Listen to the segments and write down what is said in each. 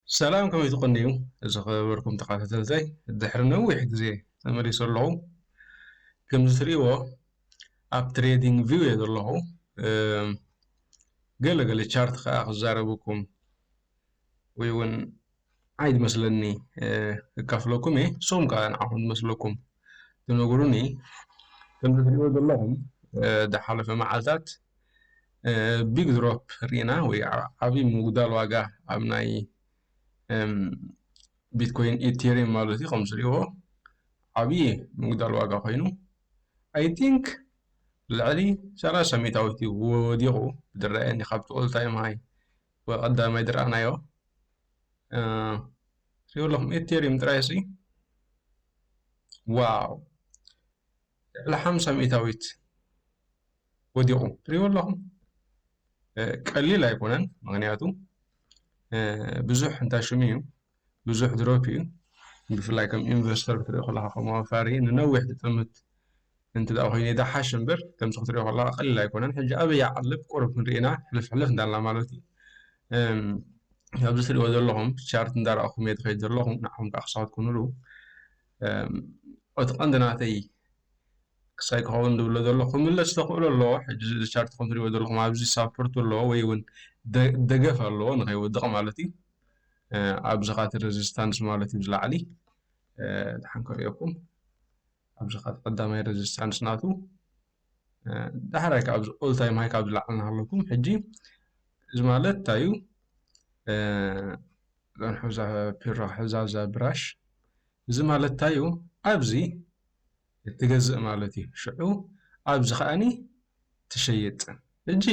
ሰላም ከመይ ትቅንዩ ዝኸበርኩም ተኻታተልተይ ድሕሪ ነዊሕ ግዜ ተመሊሰ ኣለኹ ከምዚ ትርእይዎ ኣብ ትሬዲንግ ቪው እየ ዘለኹ ገለ ገለ ቻርት ከዓ ክዛረበኩም ወይ እውን ዓይ ዝመስለኒ ክካፍለኩም እየ ንስኹም ከዓ ንዓኹም ዝመስለኩም ትነግሩኒ ከምዚ ትርእይዎ ዘለኹም ዝሓለፈ መዓልታት ቢግ ድሮፕ ርኢና ወይ ዓብዪ ምጉዳል ዋጋ ኣብ ናይ ቢትኮይን ኢቴሪየም ማለት እዩ ከም ዝሪእዎ ዓብዪ ምጉዳል ዋጋ ኮይኑ ኣይ ቲንክ ልዕሊ ሰላሳ ሚእታዊት እዩ ወዲቑ ብድረአኒ ካብቲ ኦል ታይም ሃይ ወይ ቀዳማይ ድረኣናዮ ሪኦ ኣለኹም ኢቴሪየም ጥራይ ሲ ዋው ልዕሊ ሓምሳ ሚእታዊት ወዲቑ ትሪእዎ ኣለኹም ቀሊል ኣይኮነን ምክንያቱ ብዙሕ እንታሽሙ እዩ ብዙሕ ድሮፕ እዩ ብፍላይ ከም ኢንቨስተር ክትሪኦ ከለካ ከም ኣዋፋሪ ንነዊሕ ትጥምት እንት ኮይኑ ይደሓሽ እምበር ከምዚ ክትሪኦ ከለካ ቀሊል ኣይኮነን ሕጂ ኣበይ ይዓልብ ቁርብ ክንርኢና ሕልፍ ሕልፍ እንዳልና ማለት እዩ ኣብዚ ትሪእዎ ዘለኹም ቻርት እንዳረኣኹም እየ ትኸይድ ዘለኹም ንዓኹም ከዓ ክሳወት ኩኑሉ እቲ ቀንዲ ናተይ ክሳይ ክኸውን ዝብሎ ዘሎ ክምለስ ተኽእሎ ኣለዎ ሕጂ እዚ ቻርት ከም ትሪእዎ ዘለኹም ኣብዚ ሳፖርት ኣለዎ ወይ እውን ደገፍ ኣለዎ ንኸይወድቕ ማለት እዩ ኣብዚ ካቲ ረዚስታንስ ማለት እዩ ዝላዕሊ ድሓን ክርእየኩም ኣብዚ ካቲ ቀዳማይ ረዚስታንስ ናቱ ዳሕራይ ካብ ኦል ታይም ሃይ ካብ ዝለዓል ናሃለኩም ሕጂ እዚ ማለት እንታይ እዩ ዛንሑዛ ፒራ ሕዛዛ ብራሽ እዚ ማለት እንታይ እዩ ኣብዚ እትገዝእ ማለት እዩ ሽዑ ኣብዚ ከኣ ትሸይጥ ሕጂ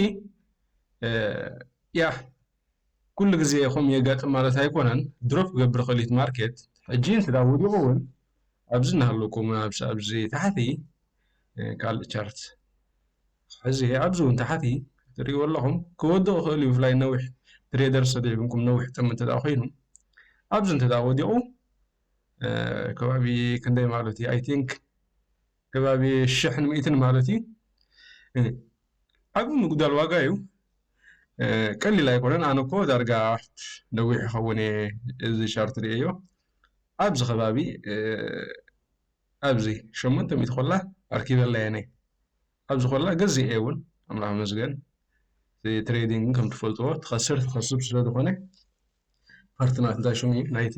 ያህ ኩሉ ግዜ ከምኡ የጋጥም ማለት ኣይኮነን ድሮፕ ክገብር ይኽእል እዩ ማርኬት ሕጂ እንተ ወዲቑ እውን ኣብዚ እናሃለኩም ኣብዚ ታሕቲ ካልእ ቻርት ሕዚ ኣብዚ እውን ታሕቲ ትሪእዎ ኣለኹም ክወድቕ ይኽእል እዩ ብፍላይ ነዊሕ ትሬደር ሰዲዕብንኩም ነዊሕ ጥም እንተ ኮይኑ ኣብዚ እንተ ወዲቑ ከባቢ ክንደይ ማለት እዩ ኣይ ቲንክ ከባቢ ሽሕን ሚእትን ማለት እዩ ዓብ ምጉዳል ዋጋ እዩ ቀሊል ኣይኮነን ኣነ እኮ ዳርጋ ነዊሕ ይኸውን እየ እዚ ሻርት ርእዮ ኣብዚ ከባቢ ኣብዚ ሸሞንተ ሚእቲ ኮላ ኣርኪበላ እየ ነይ ኣብ ዝኾላ ገዚኤ ውን ኣምላኽ ይመስገን እቲ ትሬዲንግ ከም ትፈልጥዎ ትኸስር ትኸስብ ስለ ዝኾነ ፓርቲ ናት እንታይ ሽሙ እዩ ናይቲ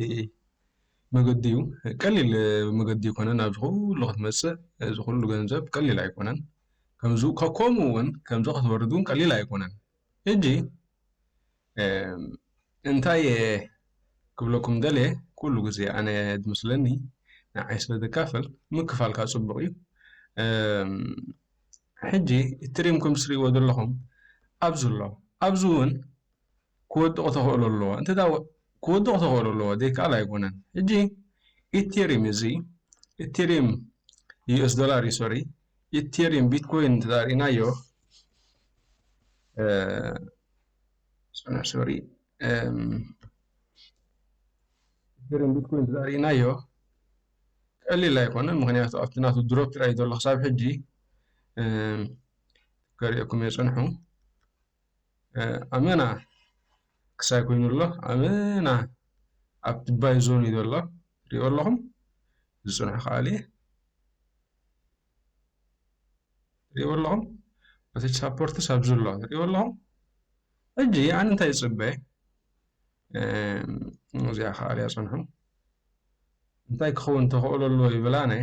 መገዲ እዩ ቀሊል መገዲ ይኮነ ናብ ዝኹሉ ክትመጽእ እዚ ኩሉ ገንዘብ ቀሊል ኣይኮነን ከምዚ ከምኡ ውን ከምዚ ክትወርድ ውን ቀሊል ኣይኮነን ሕጂ እንታይ እየ ክብለኩም ደልየ ኩሉ ግዜ ኣነ ዝመስለኒ ንዓይ ስለ ዘካፍል ምክፋል ካብ ፅቡቅ እዩ ሕጂ እትሪም ከም ትሪእዎ ዘለኹም ኣብዚ ኣሎ ኣብዚ እውን ክወድቅ ተኽእሎ ኣለዎ እንተ ክወድቅ ተኽእሎ ኣለዎ ዘይከኣል ኣይኮነን ሕጂ ኢቴሪም እዚ ኢቴሪም ዩኤስ ዶላር እዩ ሶሪ ኢቴሪም ቢትኮይን እንተ ሪእናዮ ሶሪ ኢተሪየም ቢትኮይን ተዛሪእናዮ ቀሊል ኣይኮነን ምክንያቱ ኣብቲ ናቱ ድሮፕ ጥራይ ዘሎ ክሳብ ሕጂ ከሪኦኩም እየ ፀንሑ ኣመና ክሳይ ኮይኑ ኣሎ ኣመና ኣብ ትባይ ዞን እዩ ዘሎ ሪኦ ኣለኹም ዝፅንሑ ከኣልየ ትሪእዎ ኣለኹም እቲ ሳፖርትስ ኣብዚ ኣሎ ትሪእዎ ኣለኹም ሕጂ ኣነ እንታይ ይፅበ እዚኣ ከዓ ኣልያ ፅንሑ እንታይ ክኸውን ተኽእሎ ኣለዎ ይብላነ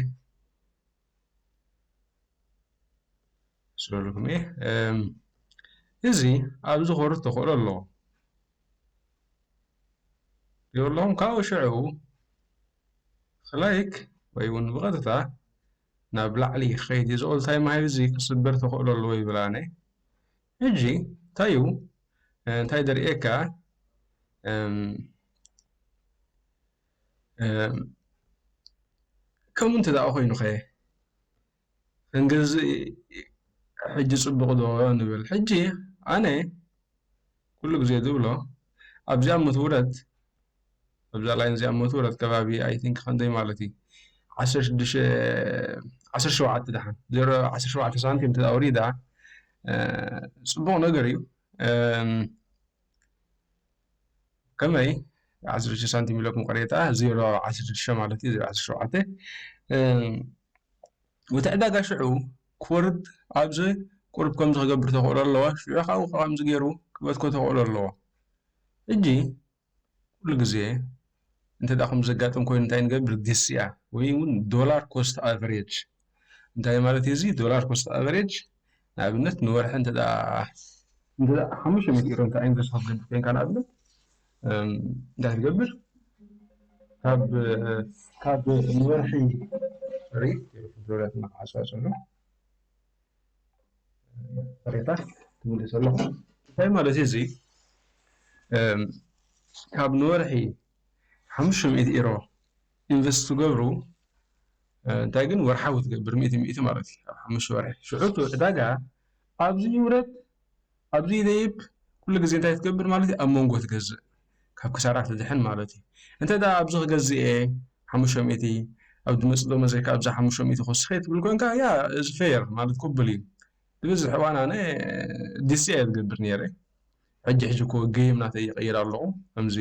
ስለልኩም እየ እዚ ኣብዚ ኮርት ተኽእሎ ኣለዎ ትሪእዎ ኣለኹም ካብኡ ሽዑ ኽላይክ ወይ ውን ብቐጥታ ናብ ላዕሊ ኽኸይድ ዩ ኦል ታይም ሃይ እዚ ክስበር ተኽእሎ ኣለዎ ይብል ኣነ ሕጂ እንታይ ዩ እንታይ ደርእየካ ከምኡ እንተ ኮይኑ ከ ክንግዝእ ሕጂ ጽቡቕ ዶ ንብል? ሕጂ ኣነ ኩሉ ግዜ ዝብሎ ኣብዚኣ መትውረት ኣብዛ ላይን እዚኣ መትውረት ከባቢ ኣይ ቲንክ ክንደይ ማለት እዩ ዓሰርተ ሽዱሽተ ዓሰርተ ሸውዓተ ደሓን ዜሮ ዓሰርተ ሸውዓተ ሳንቲም እንተ ኣውሪዳ ጽቡቕ ነገር እዩ። ከመይ ዓሰርተ ሽዱሽተ ሳንቲም ኢሎ ምቕሬታ ዜሮ ዓሰርተ ሽዱሽተ ማለት እዩ ዜሮ ዓሰርተ ሸውዓተ እቲ ዕዳጋ ሽዑ ክወርድ ኣብዚ ቁርብ ከምዚ ክገብር ተኽእሎ ኣለዎ ሽዑ ካብኡ ከምዚ ገይሩ ክበትኮ ተኽእሎ ኣለዎ ሕጂ ኩሉ ግዜ እንተ ከምዚ ዘጋጥም ኮይኑ እንታይ ንገብር ግስያ ወይ እውን ዶላር ኮስት ኣቨሬጅ እንታይ ማለት እዩ እዚ ዶላር ኮስት ኣቨሬጅ ንኣብነት ንወርሒ እንተ እንተ ሓሙሽተ ሚእቲ ኢሮ እንተ ኢንቨስት ክትገብር ኮይንካ ንኣብነት እንታይ ትገብር ካብ ካብ ንወርሒ ሪት ዶላር እናዓፅዋ ዘሎ ቅሬታ ትምልሱ ኣለኹም እንታይ ማለት እዩ እዙይ ካብ ንወርሒ ሓሙሽተ ሚእቲ ኢሮ ኢንቨስት ትገብሩ እንታይ ግን ወርሓዊ ትገብር ሚእቲ ሚእቲ ማለት እዩ ኣብ ሓሙሽተ ወርሒ ሽዑ ዕዳጋ ኣብዚ ይውረድ ኣብዚ ደይብ ኩሉ ግዜ እንታይ ክትገብር ማለት እዩ ኣብ መንጎ ትገዝእ ካብ ክሳራ ትድሕን ማለት እዩ እንተ ደኣ ኣብዚ ክገዝእ እየ ሓሙሽተ ሚእቲ ኣብ ዝመጽእ ደሞ ዘይከ ኣብዛ ሓሙሽተ ሚእቲ ክወስኸ ትብል ኮንካ ያ እዚ ፌር ማለት ቅቡል እዩ ብብዝሒ እዋን ኣነ ዲሲ እየ ዝገብር ነይረ ሕጂ ሕጂ እኮ ገይም ናተይ ይቕይር ኣለኹ ከምዚ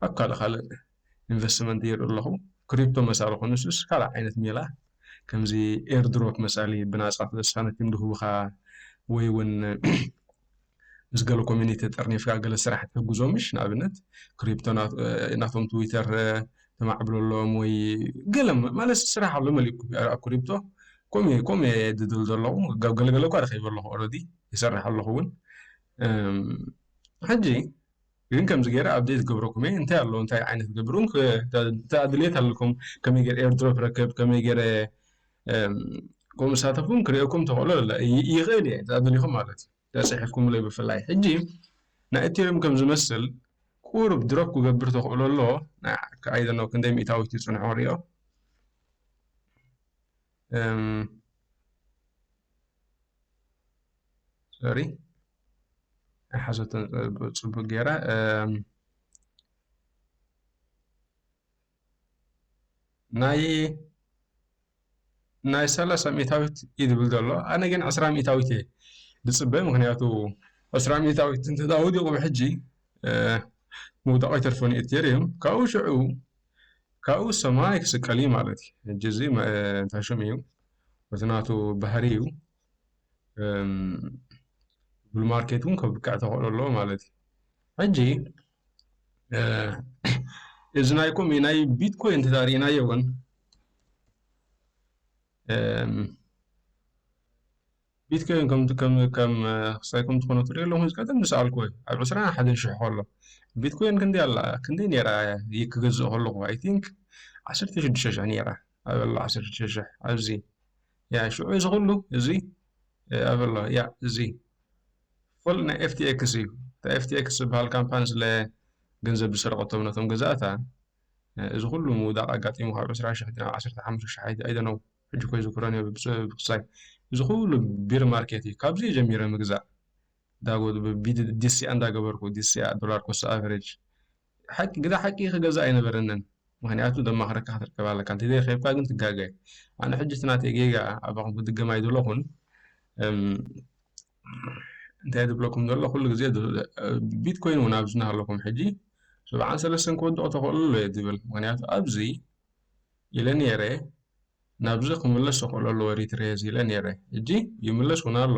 ኣብ ካልእ ካልእ ኢንቨስትመንት ይርኢ ኣለኹ ክሪፕቶ መሳሊ ኮኑስስ ካልእ ዓይነት ሜላ ከምዚ ኤርድሮፕ መሳሊ ብናጻ ሳነቲም ድሁብኻ ወይ ውን ምስ ገለ ኮሚኒቲ ተጠርኒፍካ ገለ ስራሕ ትሕግዞ ምሽ ንኣብነት ክሪፕቶ ናቶም ትዊተር ተማዕብለሎም ወይ ገለ ማለት ስራሕ ኣሎ መሊእ ኣብ ክሪፕቶ ኮሜ ኮሜ ድድል ዘለኹ ገለገለ እኳ ረኺበ ኣለኹ ኦረዲ ይሰርሕ ኣለኹ ውን ሕጂ ግን ከምዚ ገረ ኣብዴት ክገብረኩም እየ እንታይ ኣሎ እንታይ ዓይነት ገብሩ እንተ ድሌት ኣለኩም ከመይ ገረ ኤርድሮፕ ረክብ ከመይ ገረ ከምኡ ሳተፉም ክርእኩም ተኽእሎ ይኽእል እየ ተደሊኹም ማለት እዩ ተፅሒፍኩምለይ ብፍላይ ሕጂ ናይ እቴርም ከም ዝመስል ቁሩብ ድሮፕ ክገብር ተኽእሎ ኣሎ ኣይደኖ ክንደይ ሚእታዊት ይፅንሖ ሪኦ ሶሪ ኣይሓዘቶ ጽቡቅ ገይራ ናይ ናይ ሰላሳ ሚእታዊት እዩ ዝብል ዘሎ ኣነ ግን ዕስራ ሚእታዊት እየ ዝፅበ ምክንያቱ ዕስራ ሚእታዊት እንተዳ ወዲቑ ብሕጂ ምውዳቑ ይተርፈን እዩ እቴሪየም ካብኡ ሽዑ ካብኡ ሰማይ ክስቀል እዩ ማለት እዩ ሕጂ እዚ እንታይ ሽም እዩ እቲ ናቱ ባህሪ እዩ ጉግል ማርኬት እውን ከብቅዕ ተኽእሎ ኣለዎ ማለት እዩ ሕጂ እዚ ናይ ኮም ናይ ቢትኮይን ተዛሪእናዮ እውን ቢትኮይን ከም ከም ከም ክሳይ ከም ዝኾነ ትሪኦ ኣለኹ ቀደም ዝሰኣልኩ ወይ ኣብ ዕስራ ሓደ ሽሕ ከሎ ቢትኮይን ክንደይ ኣላ ክንደይ ነይራ ክገዝእ ከለኹ ኣይ ቲንክ ዓሰርተ ሽዱሽተ ሽሕ ነይራ ኣብ ዓሰርተ ሽዱሽተ ሽሕ ኣብዚ ያዕ ሽዑ እዚ ኩሉ እዚ ኣበሎ ያዕ እዚ ፉል ናይ ኤፍቲኤክስ እዩ እታ ኤፍቲኤክስ ዝበሃል ካምፓኒ ስለ ገንዘብ ዝሰረቀቶም ነቶም ገዛእታ እዚ ኩሉ ምውዳቅ ኣጋጢሙ ካብ ዕስራ ሽሕ ናብ ዓሰርተ ሓሙሽተ ሽሕ ኣይደነው ሕጂ እኮ ኣይዝክሮን እየ ብክሳይ እዚ ኩሉ ቢር ማርኬት እዩ ካብዚ እየ ጀሚረ ምግዛእ ዳጎ ዝብል ቢዲ ዲሲኣ እንዳገበርኩ ዲሲኣ ዶላር ኮስት ኣቨሬጅ ሓቂ ግደ ሓቂ ክገዛእ ኣይነበረንን ምክንያቱ ዘማክረካ ክትርከብ ኣለካ እንተዘይ ረኪብካ ግን ትጋገ ኣነ ሕጂ እቲ ናተይ ጌጋ ኣባኹም ክድገም ኣይደለኹን እንታይ ዝብለኩም ዘሎ ኩሉ ግዜ ቢትኮይን እውን ኣብዚ እናሃለኹም ሕጂ ሰብዓን ሰለስተን ክወድቕ ተኽእሎ ኣሎ እየ ዝብል ምክንያቱ ኣብዚ ኢለ ነይረ ናብዚ ክምለስ ሸኮሎ ኣለዎ ኤሪትሬ ኢለ ኔረ እጂ ይምለስ ውን ኣሎ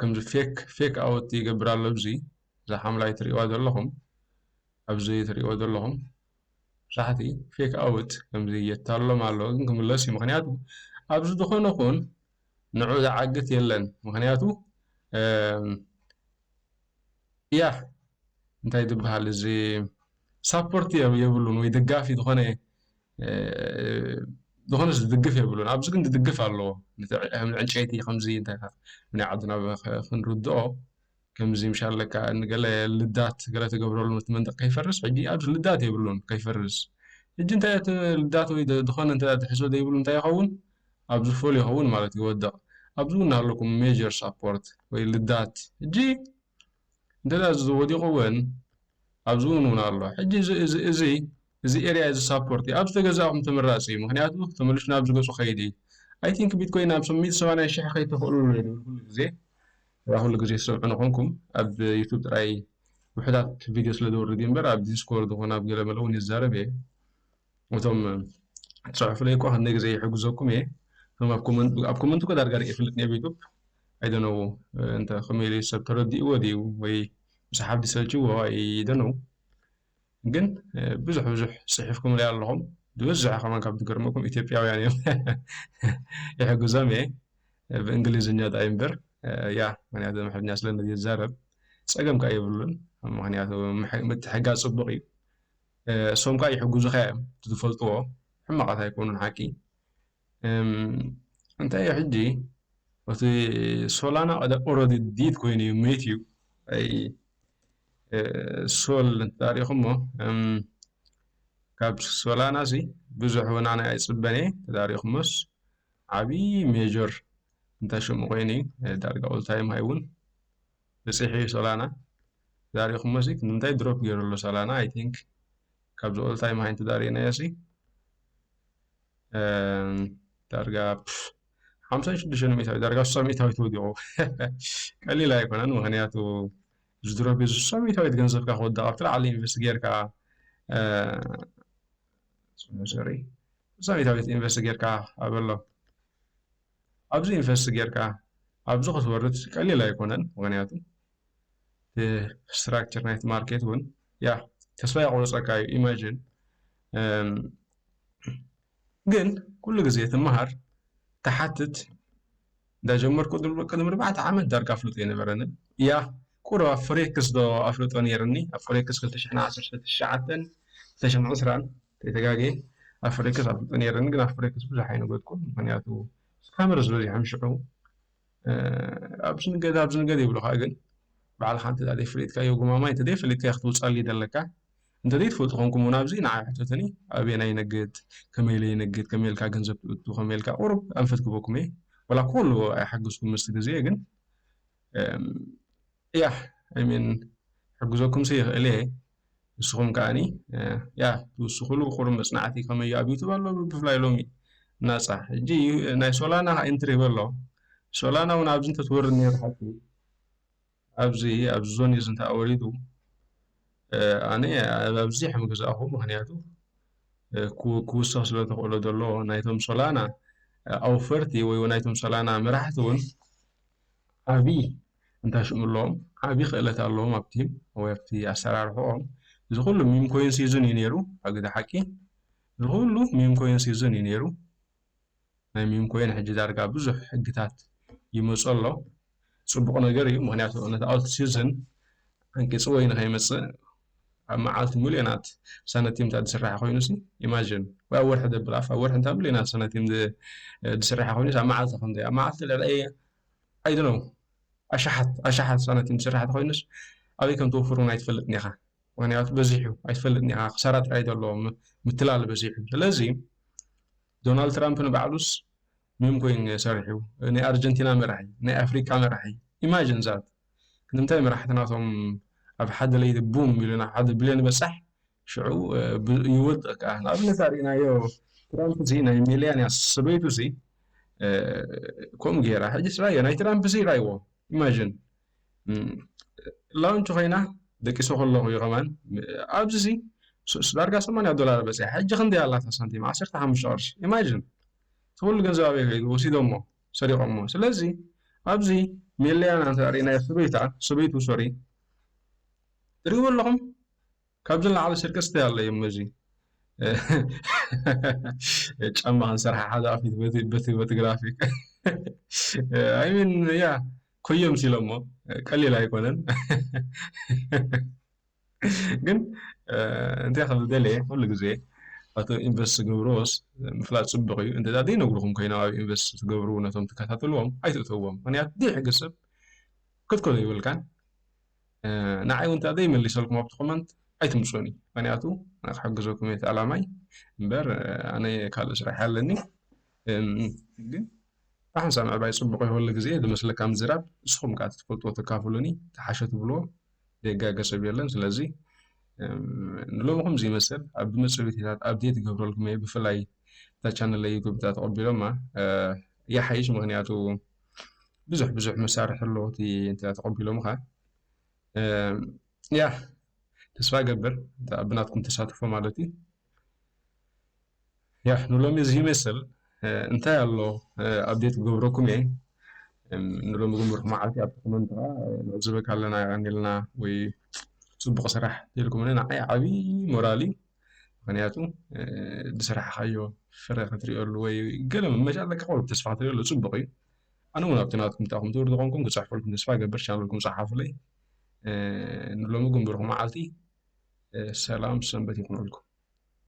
ከምዚ ፌክ ፌክ ኣውት ይገብር ኣሎ ኣብዚ እዛ ሓምላይ ትሪእዋ ዘለኹም ኣብዚ ትሪእዎ ዘለኹም ሳሕቲ ፌክ ኣውት ከምዚ የታልሎም ኣሎ ግን ክምለስ እዩ ምክንያቱ ኣብዚ ዝኾነ ኹን ንዑ ዝዓግት የለን ምክንያቱ እያ እንታይ ዝበሃል እዚ ሳፖርት የብሉን ወይ ደጋፊ ዝኾነ ዝኾነ ዝድግፍ የብሉን ኣብዚ ግን ዝድግፍ ኣለዎ ዕንጨይቲ ከምዚ እንታይ ናይ ዓድና ክንርድኦ ከምዚ ምሻል ለካ ንገለ ልዳት ገለ ተገብረሉ እቲ መንደቅ ከይፈርስ ሕጂ ኣብዚ ልዳት የብሉን ከይፈርስ ሕጂ እንታይ እቲ ልዳት ወይ ዝኾነ እንተ ትሕዞ ዘይብሉ እንታይ ይኸውን ኣብዚ ፎል ይኸውን ማለት ይወደቕ ኣብዚ እውን ኣለኩም ሜጀር ሳፖርት ወይ ልዳት ሕጂ እንተድኣ እዚ ወዲቁ ውን ኣብዚ ውን ውን ኣሎ ሕጂ እዚ እዚ እዚ እዚ ኤርያ እዚ ሳፖርት እዩ ኣብዚ ተገዛእኩም ተመራጺ እዩ ምክንያቱ ተመሊሱ ናብዚ ገጹ ከይድ እዩ ኣይ ቲንክ ቢትኮይን ናብ ሚእቲ ሰማንያ ሽሕ ከይተክእሉ ኣሎ ይብል ኩሉ ግዜ እዛ ኩሉ ግዜ ትሰምዑኒ ኮንኩም ኣብ ዩቱብ ጥራይ ውሕዳት ቪድዮ ስለ ዘውርድ እዩ እምበር ኣብ ዲስኮርድ ኮነ ኣብ ገለ መለ ውን ይዛረብ እየ እቶም ትጽሕፉለይ እኳ ክንደይ ግዜ ይሕግዘኩም እየ እቶም ኣብ ኮመንት ኣብ ኮመንት እኮ ዳርጋ ርእ ይፍልጥ ኣብ ዩቱብ ኣይደነው እንተ ከመይ ኢሉ ሰብ ተረዲእዎ ድዩ ወይ ምስ ሓብዲ ሰልችዎ ኣይደነው ግን ብዙሕ ብዙሕ ጽሒፍኩምለይ ኣለኹም ዝበዝሐ ከማን ካብ ትገርመኩም ኢትዮጵያውያን እዮም ይሕግዞም እየ ብእንግሊዝኛ ጣይ እምበር ያ ምክንያቱ ምሕርኛ ስለምዝዛረብ ጸገም ከ የብሉን ምክንያቱ ምትሕጋ ጽቡቕ እዩ እሶም ካኣ ይሕጉዙኻ እዮም እቲ ዝፈልጥዎ ሕማቃት ኣይኮኑን ሓቂ እንታይ እዩ ሕጂ እቲ ሶላና ኦረዲ ዲድ ኮይኑ እዩ ሜት እዩ ኣይ ሶል እንተሪኢኹሞ ካብ ሶላና እዚ ብዙሕ ወናነ ኣይፅበን እየ ተዳሪኹሞስ ዓብዪ ሜጀር እንታይ ሽሙ ኮይኑ እዩ ዳርጋ ኦልታይም ሃይ እውን በጺሑ ዩ ሶላና ዛሪኩሞሲ ንምንታይ ድሮፕ ጌሩ ኣሎ ሶላና ኣይ ቲንክ ካብዚ ኦል ታይም ሃይ እንተ ሪእናዮሲ ዳርጋ ሓምሳን ሽዱሽተን ሚእታዊት ዳርጋ ስሳ ሚእታዊት ወዲቑ ቀሊል ኣይኮነን ምክንያቱ ዝድሮቢ ስሳ ሚእታዊት ገንዘብካ ክወድቕ ኣብቲ ላዕሊ ኢንቨስት ጌርካ ሶሪ ስሳ ሚእታዊት ኢንቨስት ጌርካ ኣበሎ ኣብዚ ኢንቨስት ጌርካ ኣብዚ ክትወርድ ቀሊል ኣይኮነን ምክንያቱ እቲ ስትራክቸር ናይቲ ማርኬት እውን ያ ተስፋ የቁርፀካ እዩ ኢማጂን ግን ኩሉ ግዜ ትመሃር ትሓትት እንዳጀመርኩ ቅድሚ ኣርባዕተ ዓመት ዳርጋ ኣፍልጦ ኣይነበረንን እያ ቁሩብ ኣብ ፎሬክስ ዶ ኣፍልጦ ነይርኒ ኣብ ፎሬክስ 2019 2020 ተይተጋግየ ኣብ ፍሬክስ ኣፍልጦ ነይረኒ ግን ኣብ ፍሬክስ ብዙሕ ኣይነገድኩን ምክንያቱ ስካመርስ በዚሖም ሽዑ ኣብዚ ንገድ ኣብዚ ንገድ ይብሉካ ግን ባዕልካ እንተ ዘይፈሊጥካዮ ጉማማ እንተ ዘይፈሊጥካዮ ክትውፃሉ ይደለካ እንተ ዘይትፈልጡ ኮንኩም እውን ኣብዚ ንዓይ ሕተትኒ ኣበየና ይነግድ ከመይ ኢለ ይነግድ ከመይ ኢልካ ገንዘብ ትእቱ ከመይ ኢልካ ቁሩብ ኣንፈት ክበኩም እየ ወላ ኩሉ ኣይሓግዝኩም ምስቲ ግዜ ግን እያ ኣይሚን ሕግዘኩም ሲ ይኽእል እየ ንስኹም ከኣኒ ያ ትውስኹሉ ቁሩብ መጽናዕቲ ከመይ ኣብ ዩቱብ ኣሎ ብፍላይ ሎሚ ናጻ ሕጂ ናይ ሶላና ከኣ ኢንትሪ በሎ ሶላና እውን ኣብዚ እንተትወርድ ነይሩ ሓቂ ኣብዚ ኣብዚ ዞን እዚ እንተ ወሪዱ ኣነ ኣብዚ ሕምግዛእኹ ምክንያቱ ክውስኽ ስለ ተኽእሎ ዘሎ ናይቶም ሶላና ኣውፈርቲ ወይ ናይቶም ሶላና መራሕቲ እውን ዓብዪ እንታይ ሽሙ ኣለዎም ዓቢ ክእለት ኣለዎም ኣብቲ ወይ ኣብቲ ኣሰራርሕኦም እዚ ኩሉ ሚም ኮይን ሲዙን እዩ ነይሩ ኣግዲ ሓቂ እዚ ኩሉ ሚም ኮይን ሲዙን እዩ ነይሩ ናይ ሚም ኮይን ሕጂ ዳርጋ ብዙሕ ሕግታት ይመጾ ኣሎ ጽቡቕ ነገር እዩ ምክንያቱ ነቲ ኣውት ሲዝን ዓንቂጽ ወይ ንኸይመጽእ ኣብ መዓልቲ ሚልዮናት ሳነቲም እንተ ዝስራሕ ኮይኑ ሲ ኢማጅን ወይ ኣብ ወርሒ ደብል ኣፍ ኣብ ወርሒ እንታ ሚልዮናት ሳነቲም ዝስራሕ ኮይኑ ኣብ መዓልቲ ክንደይ ኣብ መዓልቲ ልዕሊ ኣይ ዶኖው ኣሽሓት ኣሽሓት ሳነቲም ዝስራሕ ተኾይኑስ ኣበይ ከም ትወፍር ውን ኣይትፈልጥን ኢኻ ምኽንያቱ በዚሑ ኣይትፈልጥን ኢኻ ክሳራ ጥራይ ዘሎ ምትላል በዚሑ ስለዚ ዶናልድ ትራምፕ ንባዕሉስ ሚም ኮይኑ ሰሪሑ ናይ ኣርጀንቲና መራሒ ናይ ኣፍሪቃ መራሒ ኢማጅን ዛት ክንምታይ መራሕትናቶም ኣብ ሓደ ለይቲ ቡም ኢሉና ሓደ ብልዮን በጻሕ ሽዑ ይወድቕ ከኣ። ንኣብነት ኣርኢናዮ ትራምፕ'ዚ ናይ ሜልያንያ ሰበይቱ'ዚ ከምኡ ጌራ። ሕጂስ ረኣዮ ናይ ትራምፕ'ዚ ረኣይዎ ኢማጅን ላውንች ኮይና ደቂሰ ከለኹ እዩ ከማን ኣብዚ'ዚ ዳርጋ ሰማንያ ዶላር በጺሓ ሕጂ ክንደይ ኣላታ ሳንቲም ዓሰርተ ሓሙሽተ ቅርሺ ኢማጅን እቲ ኩሉ ገንዘብ ኣበይ ከይዱ ወሲዶሞ ሰሪቖሞ ስለዚ ኣብዚ ሜልያን ኣንተ ርኢናዮ ሰበይታ ሰበይቱ ሶሪ ትሪእዎ ኣለኹም ካብዚ ንላዕሊ ስርቅስ እንታይ ኣሎ እዩም እዚ ጫማ ክንሰርሓ ሓደ ኣፊት በቲ በቲ በቲ ግራፊክ ኣይ ሚን ያ ኮዮም ሲሎሞ ቀሊል ኣይኮነን ግን እንታይ ከም ዝደለየ ኩሉ ግዜ ኣቶ ኢንቨስት ዝገብርዎስ ምፍላጥ ጽቡቕ እዩ እንተ ዘይነግርኹም ኮይኖም ኣብ ኢንቨስት ዝገብሩ ነቶም ትከታተልዎም ኣይትእተዎም ምክንያት ዘይሕግዝ ሰብ ክትከዶ ይብልካን ንዓይ እውን እንተዘይ መሊሰልኩም ኣብቲ ኮመንት ኣይትምፁኒ ምክንያቱ ክሕግዘኩም እየ እቲ ኣላማይ እምበር ኣነ ካልእ ስራሕ ኣለኒ ግን ብሓንሳብ ምዕባይ ፅቡቅ ይኸሉ ግዜ ዝመስለካ ምዝራብ ንስኹም ከዓ ትፈልጥዎ ተካፍሉኒ ተሓሸ ትብልዎ ደጋገ ሰብ የለን ስለዚ ንሎሚ ከምዚ ይመስል ኣብ ዝመፅእ ቪድዮታት ኣብዴት ይገብረልኩም እየ ብፍላይ እታ ቻነል ዩቱብ እታ ተቐቢሎማ ይሓይሽ ምክንያቱ ብዙሕ ብዙሕ መሳርሒ ኣሎ እቲ እንተ ተቐቢሎምኻ ያ ተስፋ እገብር ብናትኩም ተሳትፎ ማለት እዩ ያ ንሎሚ እዚ ይመስል እንታይ ኣሎ ኣብዴት ክገብረኩም እየ ንሎሚ ግንብርኩ መዓልቲ ኣብ ኮመንት ከዓ ንዕዝበካ ኣለና ይቐኒልና ወይ ፅቡቕ ስራሕ ተልኩምኒ ንዓይ ዓብዪ ሞራል እዩ ምክንያቱ ዝሰራሕካዮ ፍረ ክትሪኦሉ ወይ ገለ መመጫ ለካ ቆርብ ተስፋ ክትሪኦሉ ፅቡቅ እዩ ኣነ እውን ኣብቲ ናትኩም ታኹም ትብሉ ዝኾንኩም ክፅሕፈልኩም ተስፋ ገበር ቻነልኩም ፀሓፉለይ ንሎሚ ግን ብሩኽ መዓልቲ ሰላም ሰንበት ይኹነልኩም